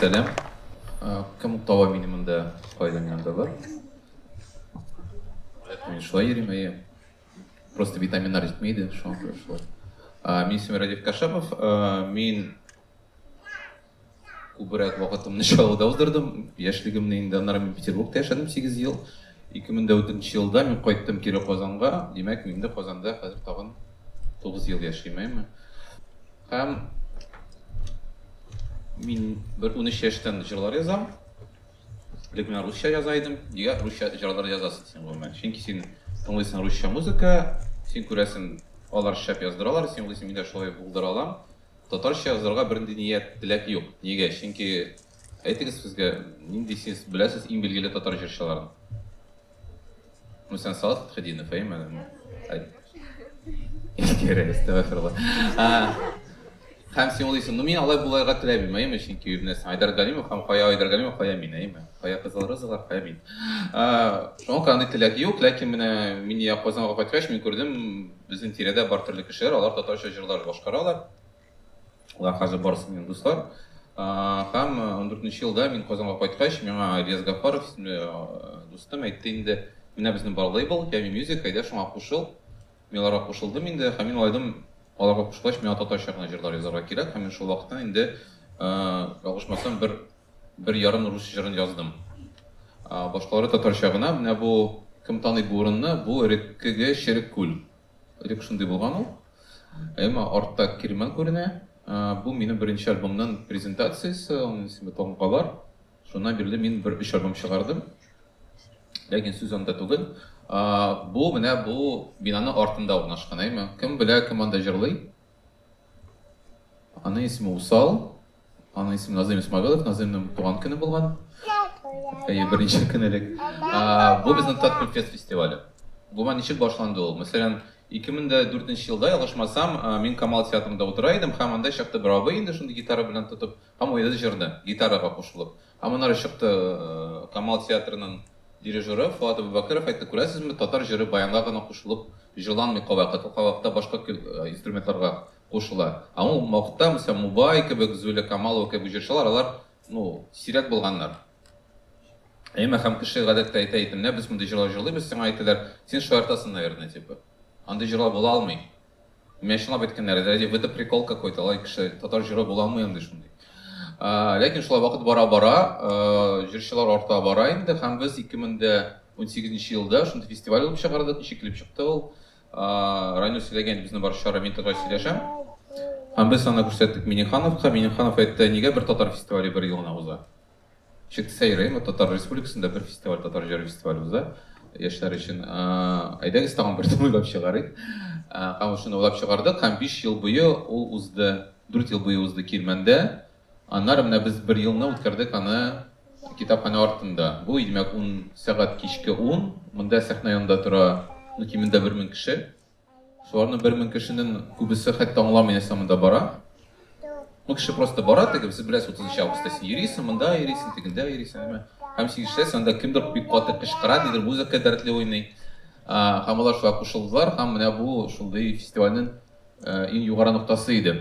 Сәлам. Кем тава мине монда кайдан янда бар? Мин шулай йөрим, әйе. Просто витаминнар җитмейді, шуңа күрә шулай. Мин исемем Радик Кашапов, мин Күбрәк вакытымны Чаллыда уздырдым. Яшьлегемне инде, аннары мин Петербургта яшәдем сигез ел. 2004 елда мин кайттым кире Казанга. Димәк, мин инде Казанда хәзер тагын тугыз ел яшим, әйме? Һәм мин бер унөч яшьтән җырлар язам. Элек мин русча яза идем. Нигә русча җырлар язасың син, гомумән? Чөнки син тыңлыйсың русча музыка, син күрәсең, алар шәп яздыралар, син уйлыйсың, мин дә шулай булдыра алам. Татарча язарга бернинди ният, теләк юк. Нигә? Чөнки әйтегез безгә, нинди сез беләсез иң билгеле татар җырчыларын? Мәсәлән, Салат Хәдинов, әйме? Искәре, әстәгфирулла. Һәм син уйлыйсың, ну мин алай буларга теләмим, әйме, чөнки юбнәсен Айдар Галимов һәм Кая Айдар Галимов, Кая мин, әйме. Кая кызыл рызыклар, Кая мин. Шуңа күрә андый теләк юк, ләкин менә мин я Казанга кайткач, мин күрдем, Безнең тирәдә бар төрле кешеләр, алар татарча җырлар башкаралар. Алар хәзер барысы минем дуслар. Һәм 14 елда мин Казанга кайткач, миңа Ильяс Гафаров исемле дустым әйтте инде, менә безнең бар лейбл, Ями Music, әйдә шуңа кушыл. Мин аларга кушылдым инде, һәм мин уйладым, аларга кушылгач, миңа татарча гына җырлар язарга кирәк, һәм мин шул вакыттан инде, ялгышмасам, бер Бер ярым рус җырын яздым. Башкалары татарча гына. Менә бу, кем таный бу урынны, бу Реккеге Черек күл. Элек шундый булган ул. Әмма артта Кирмән күренә. Бу минем беренче альбомның презентациясе, аның исеме Тамгалар. Шуннан бирле мин бер өч альбом чыгардым. Ләкин сүз анда түгел. Бу менә бу бинаның артында урнашкан, әйме? Кем белә, кем анда җырлый? Аның исеме Усал. Аның исеме Назыйм Исмагылов, Назыймның туган көне булган. Әйе, беренче көн элек. Бу безнең Таткульфест фестивале. Бу ма ничек башланды ул? Мәсәлән, 2004 елда, ялгышмасам, мин Камал театрында утыра идем, һәм анда чакта бер абый инде шундый гитара белән тотып, һәм уеды җырны, гитарага кушылып. Һәм аннары чыкты Камал театрының дирижеры Фоат Абубәкеров әйтте, күрәсезме, татар җыры баянга гына кушылып җырланмый кайвакыт, ул кайвакытта башка инструментларга кушыла. Аңа ул Мокта, мисал, Мубай кебек, Зуля Камалова кебек җырчылар, алар, ну, сирәк булганнар. Әмма һәм кеше гадәттә әйтә иде, менә без мондый җырлар җырлыйбыз, сиңа әйтәләр, син шаяртасың, наверное, типа. Андый җырлар була алмый. Миңа чынлап әйткәннәр, это ради это прикол какой-то, алай кеше татар җыры була алмый андый шундый. Ә, ләкин шулай вакыт бара-бара, э, җырчылар арта бара инде һәм без 2018 елда шундый фестиваль булып чыгардык, ничек килеп чыкты ул. Райнур сөйләгән иде, безнең бар чара мин татар сөйләшәм. Һәм без аны күрсәттек Минихановка. Миниханов әйтте, нигә бер татар фестивале бер ел гына уза? Чик сәйрәйме, татар республикасында бер фестиваль, татар җыр фестивале уза яшьләр өчен. Әйдәгез тагын бер уйлап чыгарыйк. Һәм шуны уйлап чыгардык һәм биш ел буе ул узды, дүрт ел буе узды Кирмәндә. Аннары менә без бер елны үткәрдек аны китапханә артында. Бу, димәк, ун сәгать кичке ун. Монда сәхнә янында тора, ну, кимендә бер мең кеше. Шуларның бер мең кешенең күбесе хәтта аңламый нәрсә монда бара. Ну, кеше просто бара, теге без беләс 30 августта син йөрисең, монда йөрисең, тегендә йөрисең, әмма һәм син ишетәсең, анда кемдер бик каты кычкыра, нидер музыка дәртле уйный. Һәм алар шулай кушылдылар, һәм менә бу шундый фестивальнең иң югары ноктасы иде.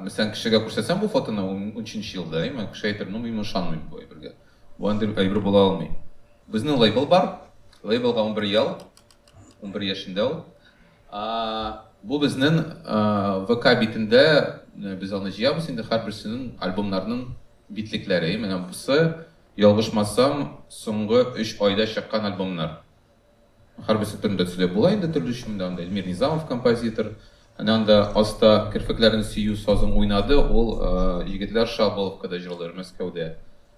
Мәсәлән, кешегә күрсәтсәң бу фотоны, унчынчы елда, әйме, кеше әйтер, ну, мин ышанмыйм бу әйбергә. Бу андый әйбер була алмый. Безнең лейбл бар. Лейблга унбер ел. Унбер яшендә ул. Бу безнең ВК битендә без аны җыябыз инде һәрберсенең альбомнарның битлекләре. Менә бусы, ялгышмасам, соңгы өч айда чыккан альбомнар. Хәрби сәптән дә төсле була инде төрле өчен дә анда Эльмир Низамов композитор. Әнә анда аста керфекләрен сөю сазың уйнады, ул егетләр Шааболовкада җырлыйлар Мәскәүдә.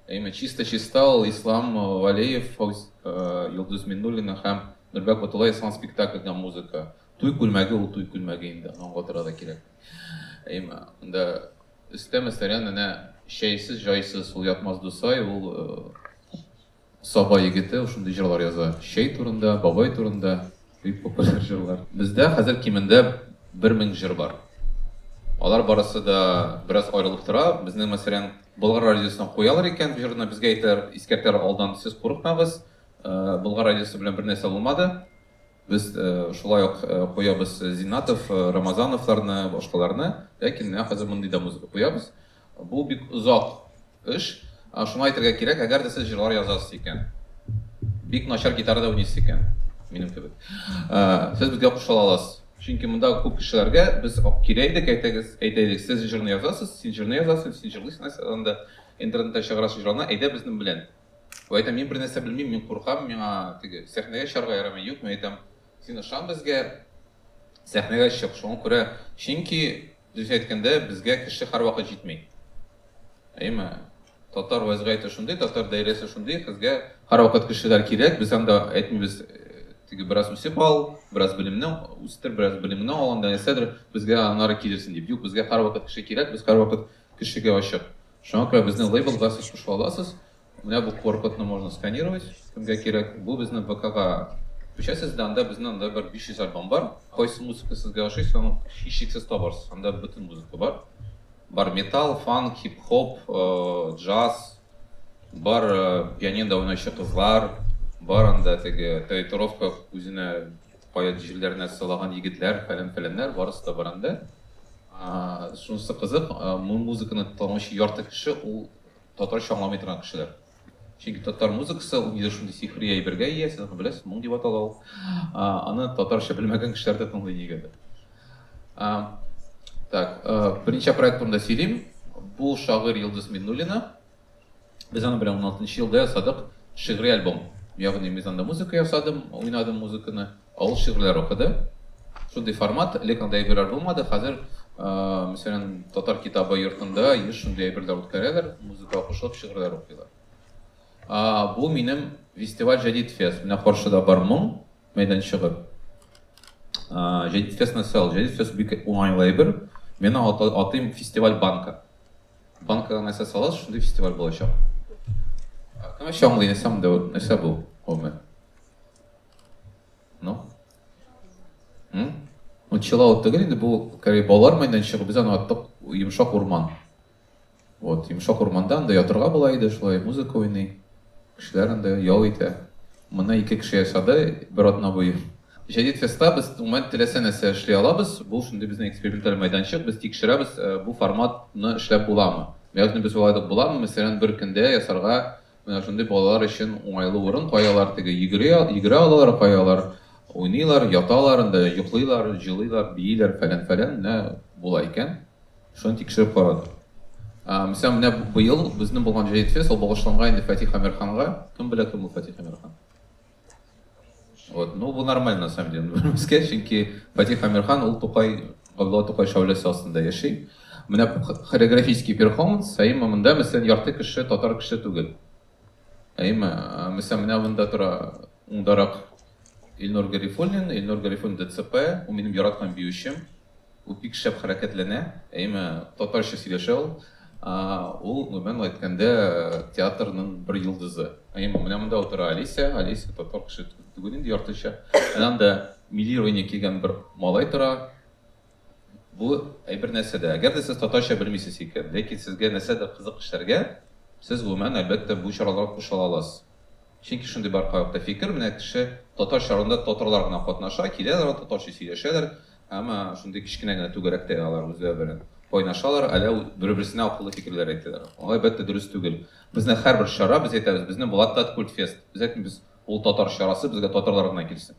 Әйме чиста чиста ул Ислам Галеев, Фауз Йолдыз Миннуллина һәм Нурбәк Батулла ясаган спектакльдә музыка. Туй күлмәге ул туй күлмәге инде, аны аңлатырга да кирәк. Әйме анда өстә мәсәлән әнә чәйсез җайсыз ул Ятмаз Дусай, ул Саба егете ул шундый җырлар яза. Чәй турында, бабай турында. Бик популяр җырлар. Бездә хәзер кимендә бер мең җыр бар. Алар барысы да бераз аерылып тора. Безнең, мәсәлән, Болгар радиосына куялар икән бу җырны, безгә әйтәләр, искәртәләр алдан, сез курыкмагыз, Болгар радиосы белән бер нәрсә булмады. Без шулай ук куябыз Зиннатов, Рамазановларны, башкаларны. Ләкин менә хәзер мондый да музыка куябыз. Бу бик озак эш. Шуңа әйтергә кирәк, әгәр дә сез җырлар язасыз икән, бик начар гитара да уйныйсыз икән, минем кебек, сез безгә кушыла аласыз. Чөнки мондагы күп кешеләргә без килә идек, әйтегез, әйтә идек, сез җырны язасыз, син җырны язасың, син җырлыйсың нәрсә анда, интернетта чыгарасың җырларны, әйдә безнең белән. Ул әйтә, мин бернәрсә белмим, мин куркам, миңа теге сәхнәгә чыгарга ярамый. Юк, мин әйтәм, син ышан безгә, сәхнәгә чык. Шуңа күрә, чөнки, Дөресен әйткәндә, безгә кеше һәрвакыт җитми. Әйеме? Татар вәзгыяте шундый, татар даирәсе шундый, безгә һәрвакыт кешеләр кирәк. Без анда әйтмибез, теге бераз үсеп ал, бераз белемне үстер, бераз белемеңне ал, анда нәрсәдер, безгә аннары килерсең дип. Юк, безгә һәрвакыт кеше кирәк, без һәрвакыт кешегә ачык. Шуңа күрә безнең лейблга сез кушыла аласыз. Менә бу QR-кодны можно сканировать, кемгә кирәк. Бу безнең ВКга күчәсез дә, анда безнең анда бер 500 альбом бар. Кайсы музыка сезгә ошый, соны һичшиксез табарсыз. Анда бөтен музыка бар. Бар металл, фанк, хип-хоп, джаз, бар пианинода уйнаучы кызлар, бар анда теге татуировка үзенә кая җирләренә сылаган егетләр, фәлән-фәләннәр, барысы да бар анда. Шунысы кызык, бу музыканы тыңлаучы ярты кеше ул Татарча аңламый торган кешеләр. Чөнки татар музыкасы ул нидер шундый сихри әйбергә ия, сез аны беләсез, моң дип атала ул. Аны татарча белмәгән кешеләр дә тыңлый нигәдер. Так, беренче проект турында сөйлим. Бу шагыйрь Йолдыз Миннуллина. Без аның белән 16 елда ясадык шигъри альбом. Ягъни мин анда музыка ясадым, уйнадым музыканы. Авыл шигырьләре укыды. Шундый формат, элек андый әйберләр булмады. Хәзер, мәсәлән, Татар китабы йортында еш шундый әйберләр үткәрәләр, музыкага кушылып шигырьләр укыйлар. Бу минем фестиваль Җәдит фест. Менә каршыда бар моң мәйданчыгы. Җәдит фест нәрсә ул? Җәдит фест бик уңайлы әйбер. Мин аны атыйм фестиваль банка. Банкага нәрсә саласыз, шундый фестиваль булачак. Кем аңлый, нәрсә монда, нәрсә бу гомумән? Ну? М? Ну, чиллаут түгел инде, бу кәби балалар мәйданчыгы, без аны аттык йомшак урман. Вот, йомшак урманда анда ятырга була иде, шулай музыка уйный. Кешеләр анда ял итә. Моны ике кеше ясады бер атна буе. Җәдит феста без гомумән теләсә нәрсә эшли алабыз. Бу шундый безнең эксперименталь мәйданчык, без тикшерәбез, э, бу форматны эшләп буламы. Ягъни без уйладык, буламы, мәсәлән, бер көндә ясарга Менә шундый балалар өчен уңайлы урын каялар, теге йөгери, йөгерә алалар каялар, уйныйлар, яталар анда, йоклыйлар, җылыйлар, бииләр, фәлән-фәлән, менә була икән. Шуны тикшереп карадык. Ә, Мисәм, менә быел безнең булган җәет фест, ул багышланган инде Фатих Әмирханга. Кем белә, кем ул Фатих Әмирхан? Вот, ну, бу нормально, на самом деле. Безгә, чөнки Фатих Амирхан ул Тукай, Габдулла Тукай шауләсе астында яши. Менә хореографический перформанс, әйме монда, мәсәлән, ярты кеше татар кеше түгел. Әйме, мәсәлән, менә монда тора уңдарак Илнур Гарифуллин, Илнур Гарифуллин ДЦП, ул минем яраткан биючем. Ул бик шәп хәрәкәтләнә, әйме, татарча сөйләшә ул. Ул, гомумән әйткәндә, театрның бер йолдызы. Әйме, менә монда утыра Олеся, Олеся татар кеше түгел инде яртыча. Әнә анда милли ройня кигән бер малай тора. Бу әйбер нәрсә дә, әгәр дә сез татарча белмисез икән, ләкин сезгә нәрсәдер кызык эшләргә, сез, гомумән, әлбәттә, бу чараларга кушыла аласыз. Чөнки шундый бар кайвакыта фикер, менә кеше татар чарында татарлар гына катнаша, киләләр, татарча сөйләшәләр, Әмма шундый кечкенә генә түгәрәктә алар үзләре белән кайнашалар, әллә бер-берсенә акыллы фикерләр әйтәләр. Алай, әлбәттә, дөрес түгел. Безнең һәрбер чара, без әйтәбез, безнең Булат Тат Культфест. Без әйтмибез, ул татар чарасы, безгә татарлар гына килсен.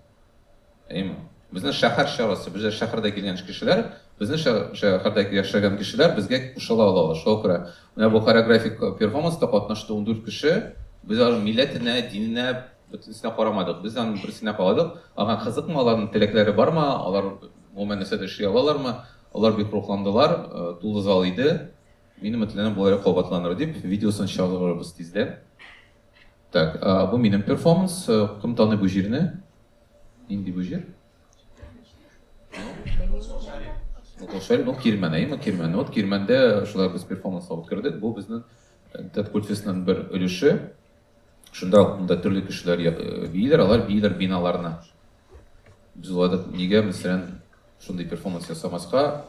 Әйеме? Безнең шәһәр чарасы, безгә шәһәрдә килгән кешеләр, безнең шәһәрдә яшәгән кешеләр безгә кушыла алалар. Шуңа күрә менә бу хореографик перформанста катнашты ундүрт кеше, без аларның милләтенә, диненә, Бөтенесенә карамадык. Без аның берсенә карадык. Аңа кызыкмы, аларның теләкләре бармы, алар гомумән нәрсә дә эшли алалармы? Алар бик рухландылар, тулы зал иде. Мин өметләнәм, бу әле кабатланыр дип, видеосын чыгарырбыз тиздән. Так, бу минем перформанс. Кем таный бу җирне? Нинди бу җир? Шәл, ну, Кирмән, әйеме, Кирмән. Вот Кирмәндә шулай без перформанс алып кердек. Бу безнең Тәткультфестның бер өлеше. Шунда ук монда төрле кешеләр бииләр, алар бииләр биналарны. Без уладык, нигә мәсәлән шундый перформанс ясамаска,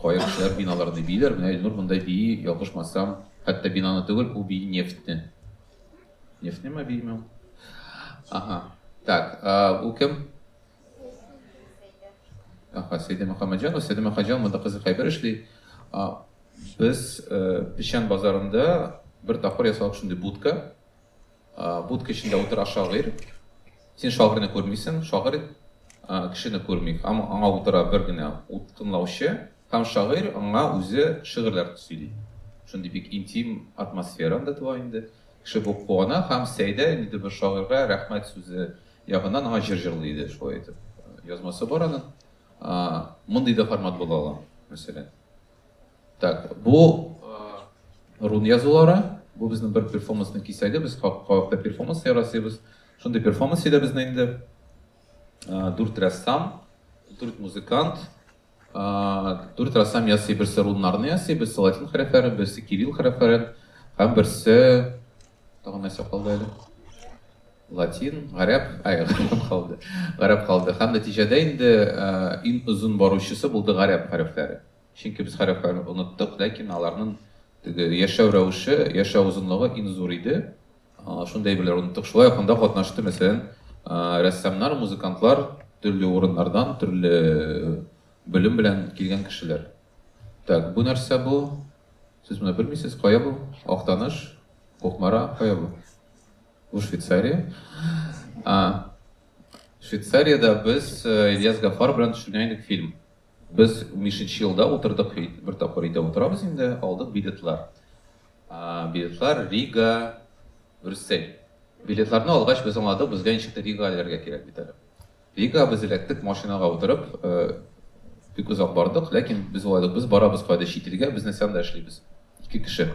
кая кешеләр биналарны бииләр, менә Илнур монда бии, ялгышмасам, хәтта бинаны түгел, ул бии нефтьне. Нефтьне ма биеме? Ага. Так, ул кем? Аха, Сәйдә Мөхәммәтҗанова, Сәйдә Мөхәммәтҗанова монда кызык әйбер эшли. Без Печән базарында бер тапкыр ясадык шундый будка. Будка эчендә утыра шагыйрь. Син шагыйрьне күрмисең, шагыйрь кешене күрми. Аңа утыра бер генә тыңлаучы һәм шагыйрь аңа үзе шигырьләр сөйли. Шундый бик интим атмосфера анда туа инде. Кеше бу куана һәм Сәйдә инде бер шагыйрьгә рәхмәт сүзе Якыннан аңа җыр җырлый иде шулай итеп. Язмасы бар аның. Мондый да формат була ала, мәсәлән. Так, бу рун язулары, бу безнең бер перформансның кисәге, без кавакта перформанс ярасыйбыз. Шундый перформанс иде безнең инде. Дүрт рәссам, дүрт музыкант, Дүрт рәссам ясый, берсе руннарны ясый, берсе латин хәрефләрен, берсе кирилл хәрефләрен һәм берсе тагын нәрсә калды әле? Латин, гарәп, ай, гарәп калды. Гарәп калды. Һәм нәтиҗәдә инде иң озын баручысы булды гарәп хәрефләре. Чөнки без хәрефләрне оныттык, ләкин аларның яшәү рәвеше, яшәү озынлыгы иң зур иде. Шундый әйберләр оныттык. Шулай ук анда катнашты, мәсәлән, рәссамнар, музыкантлар, төрле урыннардан, төрле белем белән килгән кешеләр. Так, бу нәрсә бу? Сез моны белмисез, кая бу? Актаныш, Кукмара, кая бу? Бу Швейцария. Швейцариядә без Ильяс Гафар белән төшергән идек фильм. Без унбишенче елда утырдык, бер тапкыр өйдә утырабыз инде, алдык билетлар. Билетлар Рига, Брюссель. Билетларны алгач, без аңладык, безгә ничек тә Рига эләргә кирәк бит әле. Рига без эләктек, машинага утырып, бик озак бардык, ләкин без уйладык, без барабыз кайда чит илгә, без нәрсә анда эшлибез, ике кеше.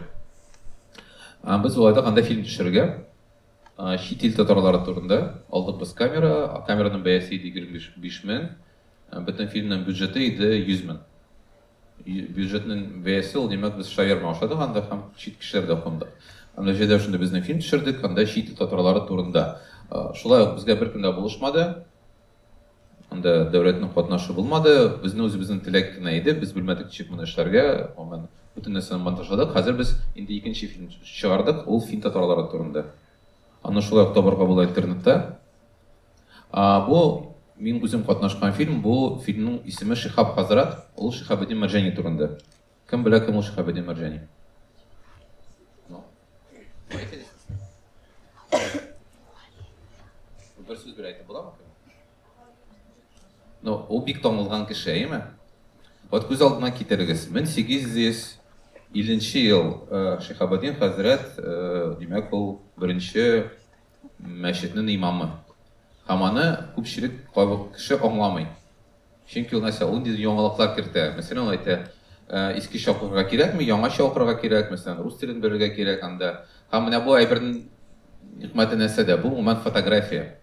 Без уйладык анда фильм төшерергә, чит ил татарлары турында, алдык без камера, камераның бәясе иде егерме биш мең. Бөтен фильмның бюджеты иде 100 мең. Бюджетның бәясе ул, димәк, без шаверма ашадык анда һәм чит кешеләрдә кундык. Һәм нәтиҗәдә шундый безнең фильм төшердек, анда чит ил татарлары турында. Шулай ук безгә беркем дә булышмады. Анда дәүләтнең катнашы булмады. Безнең үзебезнең теләк кенә иде. Без белмәдек ничек моны эшләргә. Гомумән, бөтен нәрсәне монтажладык. Хәзер без инде икенче фильм чыгардык, ул фин татарлары турында. Аны шулай ук табарга була интернетта. А, бу мин үзем катнашкан фильм, бу фильмның исеме Шихаб хәзрәт, ул Шихабеддин Мәрҗани турында. Кем белә, кем ул Шихабеддин Мәрҗани? Ну. Бер сүз белән әйтеп буламы? Ну, ул бик танылган кеше, әйме? Вот күз алдына китерегез. 1850 ел э, Шихабеддин хәзрәт, э, димәк, ул беренче мәчетнен имамы. Һәм аны күпчелек кайбер кеше аңламый. Чөнки ул нәрсә, ул инде яңалыклар кертә. Мәсәлән, ул әйтә, искечә укырга кирәкми, яңача укырга кирәк, мәсәлән, рус телен белергә кирәк анда. Һәм менә бу әйбернең хикмәте нәрсәдә? Бу гомумән фотография.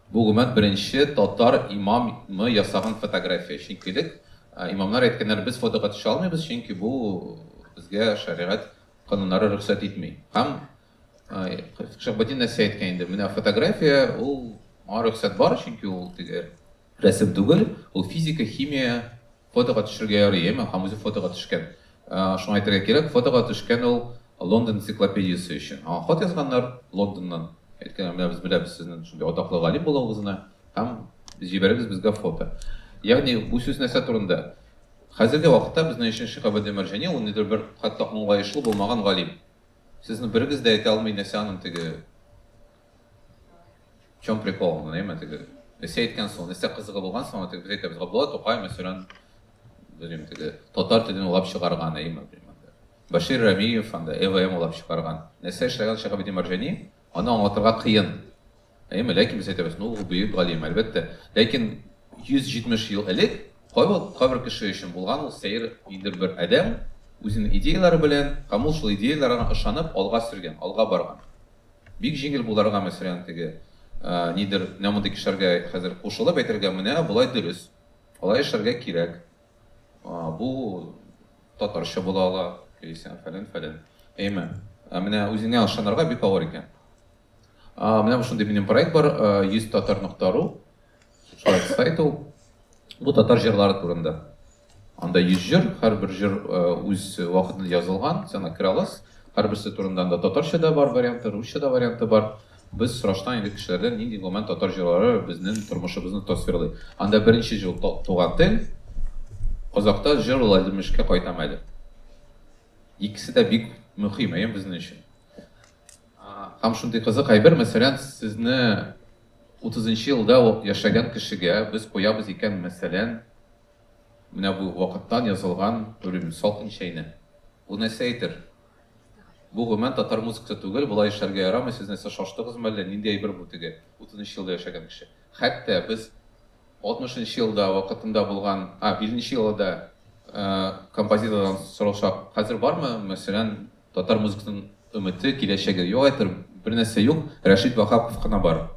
Бу гомумән беренче татар имамы ясаган фотография. Чөнки элек имамнар әйткәннәр, без фотога төшә алмыйбыз, чөнки бу безгә шәригать кануннары рөхсәт итми. Һәм Шаббатин нәрсә әйткән инде? Менә фотография ул аңа рөхсәт бар, чөнки ул теге рәсем түгел, ул физика, химия, фотога төшергә ярый, яме, һәм үзе фотога төшкән. Шуңа әйтергә кирәк, фотога төшкән ул Лондон энциклопедиясе өчен. Аңа хат язганнар Лондоннан. Әйткәннәр, менә без беләбез сезнең шундый атаклы галим булуыгызны, һәм җибәрегез безгә фото. Ягъни бу сүз нәрсә турында? Хәзерге вакытта безнең өчен Шиһабетдин Мәрҗани ул ниндидер бер хәтта аңлаешлы булмаган галим. Сезне берегез дә әйтә алмый нәрсә аның теге В чем прикол, ну, нәймә теге нәрсә әйткән соң, нәрсә кызыгы булган соң, теге без әйтәбез, Габдулла Тукай мәсәлән, белмим, теге татар телен улап чыгарган, әйме, Башир Рамиев анда ЭВМ улап чыгарган. Нәрсә эшләгән Шәһабетдин Марҗани? Аны аңлатырга кыен. Әйеме? Ләкин без әйтәбез, ну, ул бөек галим, әлбәттә. Ләкин 170 ел элек кайбер, кайбер кеше өчен булган ул сәер ниндидер бер адәм, үзенең идеяләре белән, һәм ул шул идеяләргә ышанып, алга сөргән, алга барган. Бик җиңел буларга, мәсәлән, теге, нидер, менә мондый кешеләргә хәзер кушылып әйтергә, менә болай дөрес, алай эшләргә кирәк, Бу татарча була ала, яисә фәлән фәлән. Әйме, ә менә үзеңә ышанырга бик авыр икән. А, менә шундый минем проект бар, 100 татар нокта ру. Шулай сайт ул. Бу татар җырлары турында. Анда 100 җыр, һәрбер җыр үз вакытында язылган, сәнгатькәр алас. Һәрберсе турында анда татарча да бар варианты, русча да варианты бар. Без сорашкан идек кешеләрдән, нинди гомумән татар җырлары безнен тормышыбызны тасвирлый. Анда беренче җыл та туган тел, Казакта җыр ул Әлдермешкә кайтам әле. Икесе дә бик мөхим, әйе, безнен өчен. Һәм шундый кызык әйбер, мәсәлән, сезне утызынчы елда яшәгән кешегә без куябыз икән, мәсәлән, менә бу вакыттан язылган, белмим, Салкын чәйне. Бу нәрсә әйтер? Бу гомумән татар музыкасы түгел, болай эшләргә ярамый, сез нәрсә шаштыгызмы әллә, нинди әйбер бу теге, утызынчы елда яшәгән кеше, хәтта без алтмышынчы елда вакытында булган, а, биллнче елыда композитордан соралчак, хәзер бармы, мәсәлән, татар музыкасын өмете, киләчәге, юк әйтер, бер нәрсә юк, Рәшит Ваһапов кына бар,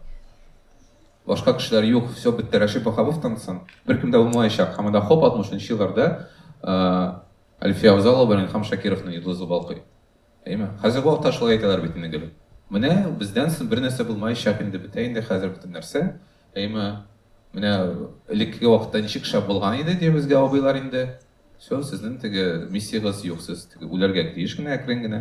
башка кешеләр юк, всё бетте, Рәшит Ваһаповтан соң беркем дә булмаячак, һәм анда хоп алтмышынчы елларда Әлфия Авзалова белән Илһам Шакировның йолдызы балкый. Әйме? Хәзерге вакытта шулай әйтәләр бит инде, гөлем. Менә бездән соң бернәрсә булмаячак инде, бетә инде хәзер бөтен нәрсә. Әйме? Менә элеккеге вакытта ничек шәп булган иде, ди безгә абыйлар инде. Всё, сезнең теге миссиягез юк, сез теге үләргә тиеш генә әкрен генә.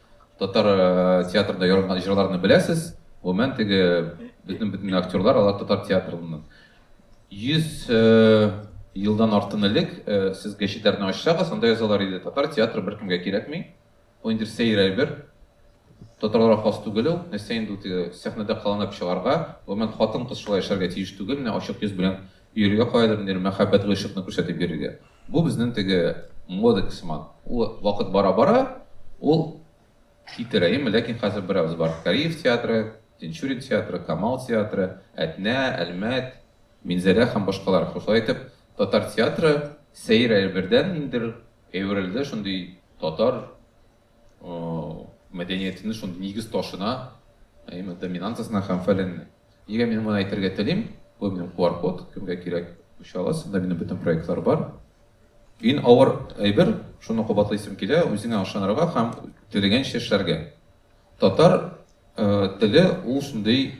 Татар театрында яралган җырларны беләсез. Гомумән теге безнең бөтен актерлар алар татар театрыннан. 100 елдан артын элек э, сез гәчетләрне ачсагыз, анда язалар иде, татар театры беркемгә кирәкми, ул инде сәер әйбер, татарларга хас түгел ул, нәрсә инде ул сәхнәдә кыланып чыгарга, гомумән хатын-кыз шулай яшәргә тиеш түгел, менә ачык йөз белән Йөрергә каядыр ниндидер мәхәббәт гыйшыкны күрсәтеп йөрергә. Бу безнең теге модек сыман. Ул вакыт бара-бара ул китерә. Әйеме? Ләкин хәзер берәүбез бар Кариев театры, Тинчурин театры, Камал театры, Әтнә, Әлмәт, Минзәлә һәм башкалар. Шулай итеп, татар театры сәер әйбердән ниндидер әверелде шундый татар мәдәниятенең шундый нигез ташына, әйме доминантасына һәм фәленне. Нигә мин моны әйтергә телим? Бу минем QR код, кемгә кирәк, күчә аласыз. Монда минем бөтен проектлар бар. Ин авыр әйбер, шуны кабатлыйсым килә, үзеңә ышанырга һәм теләгәнчә эшләргә. Татар э, теле ул шундый,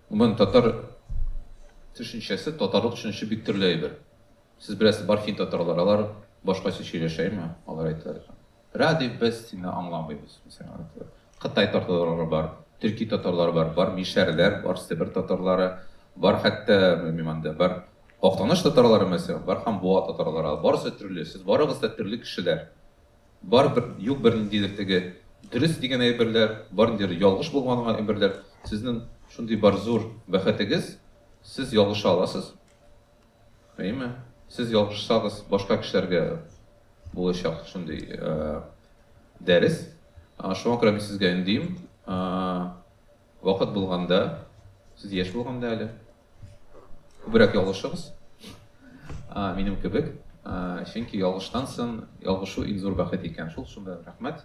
гомумән татар төшенчәсе, татарлык төшенчәсе бик төрле әйбер. Сез беләсез, бар фин татарлар, алар башкача сөйләшә, әйме? Алар әйтәләр, Радий, без сине аңламыйбыз, мәсәлән, алар әйтәләр. Кытай татарлары бар, төрки татарлары бар, бар мишәрләр, бар себер татарлары, бар хәтта, белмим анда, бар Актаныш татарлары, мәсәлән, бар һәм Буа татарлары, барысы төрле, сез барыгыз да төрле кешеләр. Бар бер, юк берниндидер теге дөрес дигән әйберләр, бар ниндидер ялгыш булган әйберләр. Сезнең шундый бар зур бәхетегез, сез ялгыша аласыз. Әйме, сез ялгышсагыз, башка кешеләргә булачак шундый дәрес. Шуңа күрә мин сезгә өндим, вакыт булганда, сез яшь булганда әле, күбрәк ялгышыгыз, минем кебек, чөнки ялгыштан соң ялгышу иң зур бәхет икән шул, шунда рәхмәт.